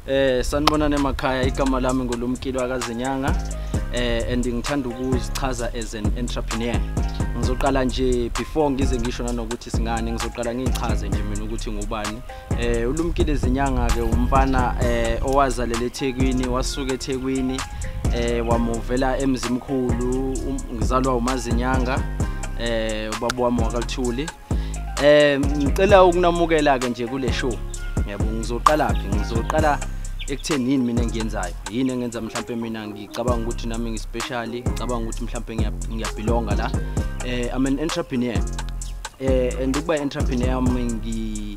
Eh sanibonani emakhaya igama lami ngulumkilo akazinyanga eh and ngithanda ukuzichaza as an entrepreneur. Ngizoqala nje before ngize ngisho nanokuthi singane ngizoqala ngichaze nje mina ukuthi ngubani. Eh ulumkile zinyanga ke umfana eh owazalele eThekwini wasuka eThekwini eh wamuvela emzimkhulu um, ngizalwa umazinyanga eh ubaba wami wakaLthuli Eh ngicela ukunamukela ke nje kule show. Yebo ngizoqala phi? Ngizoqala ekutheni yini mina engiyenzayo yini engenza mhlawumbe mina ngicabanga ukuthi nami ngispecial ngicabanga ukuthi mhlawumbe ngiyabhilonga la eh i'm an entrepreneur eh and ukuba entrepreneur ngi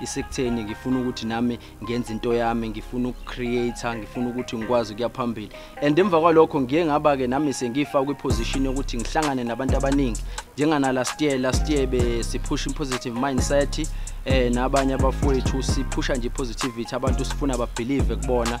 isekutheni ngifuna ukuthi nami ngenze into yami ngifuna ukucreator ngifuna ukuthi ngikwazi ukuya phambili and emva kwalokho ngiye ngaba ke nami sengifa kwi position yokuthi ngihlangane nabantu abaningi njengana last year last year be siphusha positive mindset eh nabanye abafowethu siphusha nje positivity abantu sifuna ba believe kubona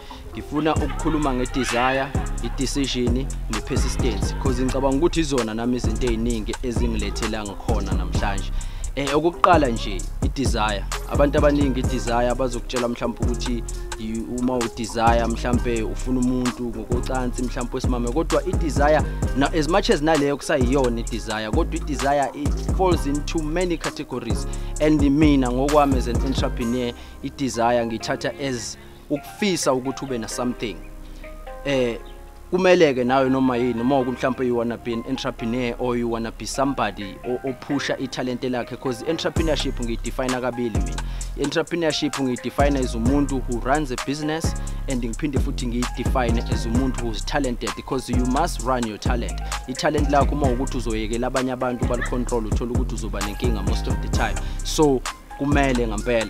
ngifuna ukukhuluma nge-desire i-decision ne-persistence because ngicabanga ukuthi izona nami izinto ey'ningi ezingilethela ngikhona namhlanje um eh, okukuqala nje i-desire abantu abaningi i-desire bazokutshela mhlawumpe ukuthi uma u-desire mhlawumpe ufuna umuntu ngokocansi mhlawumpe wesimame kodwa i-desire as much as naleyo kusayiyona i-desire kodwa i-desire it falls into many categories and mina ngokwami as an entrepreneur i-desire ngiyithatha as ukufisa ukuthi ube na something eh kumeleke nawe noma yini noma ukumhlawumbe you wanna be an entrepreneur or you wanna be somebody ophusha italente lakhe because entrepreneurship ngiyidefine kabili mina entrepreneurship ngiyidefine as umuntu who runs a business and ngiphinde futhi ngiyidefine as umuntu who's talented because you must run your talent italent lakho uma ukuthi uzoyekela abanye abantu balicontrol uthola ukuthi uzoba nenkinga most of the time so kumele ngempela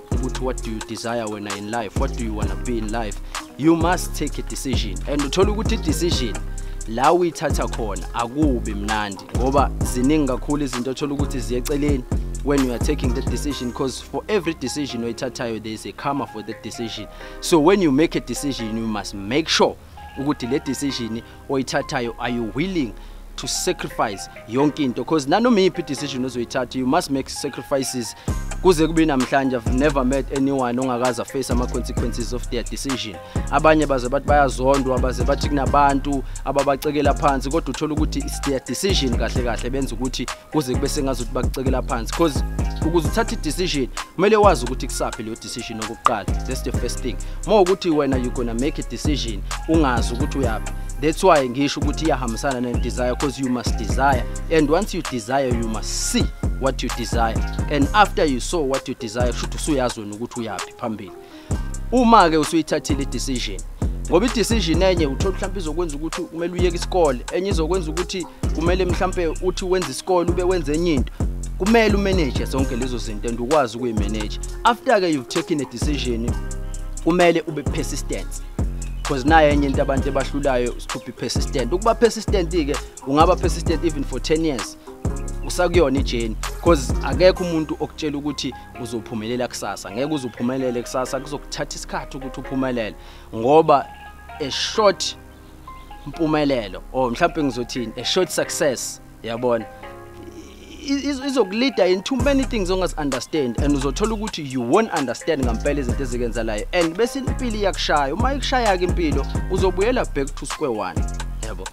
ukuthi what do you desire wena in life what do you wanna be in life you must take a decision and uthola ukuthi i-decision la uyithatha khona akubi mnandi ngoba ziningi kakhulu izinto othola ukuthi ziye eceleni when you are taking that decision because for every decision oyithathayo there is a karma for that decision so when you make a decision you must make sure ukuthi le decision oyithathayo are you willing to sacrifice yonke into because nanoma iyiphi decision ozoyithatha you must make sacrifices kuze kube namhlanje i've never met anyone ongakaza face ama consequences of their decision abanye baze bathi bayazondwa baze bathi kunabantu ababacekela phansi kodwa uthola ukuthi it's their decision kahle kahle benza ukuthi kuze kube sengazi ukuthi bakucekela phansi because ukuze uthathe i-decision kumele wazi ukuthi kusaphi leyo decision okokuqala that's the first thing more ukuthi wena you gonna make a decision ungazi ukuthi uyaphi that's why ngisho ukuthi iyahambisana ne-desire because you must desire and once you desire you must see what you desire and after you saw what you desire kusho ukuthi usuyazi wena ukuthi uyaphi phambili uma ke usuyithathile i decision ngoba i-decision enye uthola mhlawumbe izokwenza ukuthi kumele uyeke isikole enye izokwenza ukuthi kumele mhlawumbe uthi wenza isikole ube wenza enye into kumele umanage zonke lezo zinto and ukwazi ukuyimanage after ke you've taken a decision kumele ube persistent because naye enye into abantu ebahlulayo to be persistent ukuba persistent ke ungaba persistent even for 10 years usakuyona ijeni because akekho umuntu okutshela ukuthi uzophumelela kusasa ngeke uzuphumelele kusasa kuzokuthatha isikhathi ukuthi uphumelele ngoba a short impumelelo or mhlawumbe ngizothini a short success yabona izokulida in too many things ongazi understand and uzothola ukuthi you won't understand ngampela izinto ezikenzalayo and bese impilo iyakushaya uma ikushaya ke impilo uzobuyela back to square one yabo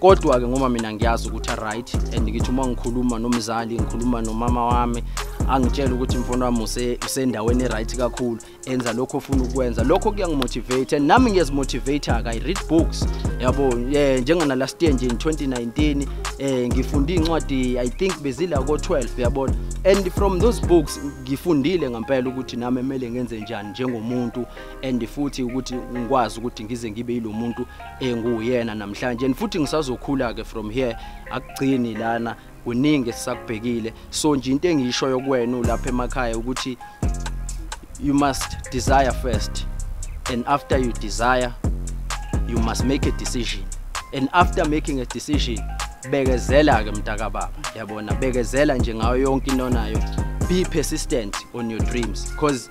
kodwa ke ngoba mina ngiyazi ukuthi aright and ngithi uma ngikhuluma nomzali ngikhuluma nomama wami angitshela ukuthi mfana wami usendaweni eright kakhulu enza lokho ofuna ukwenza lokho kuyangimotivate and nami ngiyazimotivate-ka i read books yabo um eh, njengana last year nje in 2019 um eh, ngifunde iy'ncwadi i think bezila ko-12 yabona and from those books ngifundile ngempela ukuthi nami kumele ngenze njani njengomuntu and futhi ukuthi ngikwazi ukuthi ngize ngibe yilo muntu enguyena namhlanje and futhi ngisazokhula ke from here akugcini lana kuningi esisakubhekile so nje into engisho yokuwena ulapha emakhaya ukuthi you must desire first and after you desire you must make a decision and after making a decision bekezela ke mntaka baba yabona bekezela nje ngayo yonke into onayo be persistent on your dreams because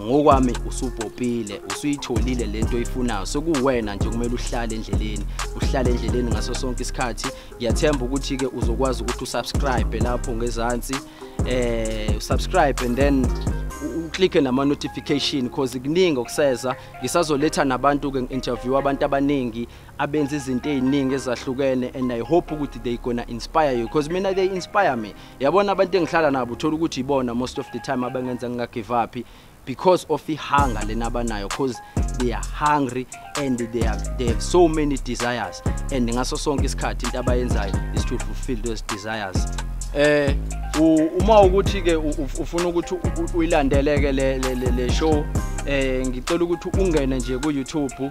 ngokwami usubhobhile usuyitholile lento oyifunayo sekuwena nje kumele uhlale endleleni uhlale endleleni ngaso sonke isikhathi ngiyathemba ukuthi ke uzokwazi ukuthi usubscribe lapho ngezansi eh subscribe and then uclicke nama notification because kuningi okuseza ngisazoletha nabantu ke interview abantu abaningi abenza izinto eziningi ezahlukene and i hope ukuthi they gonna inspire you because mina they inspire me yabona abantu engihlala nabo uthola ukuthi ibona most of the time abangenza ngingagive up because of ihunger lena abanayo because they are hungry and they are they have so many desires and ngaso sonke isikhathi into abayenzayo is to fulfill those desires eh uma ukuthi ke ufuna ukuthi uyilandeleke le le show eh ngicela ukuthi ungene nje ku YouTube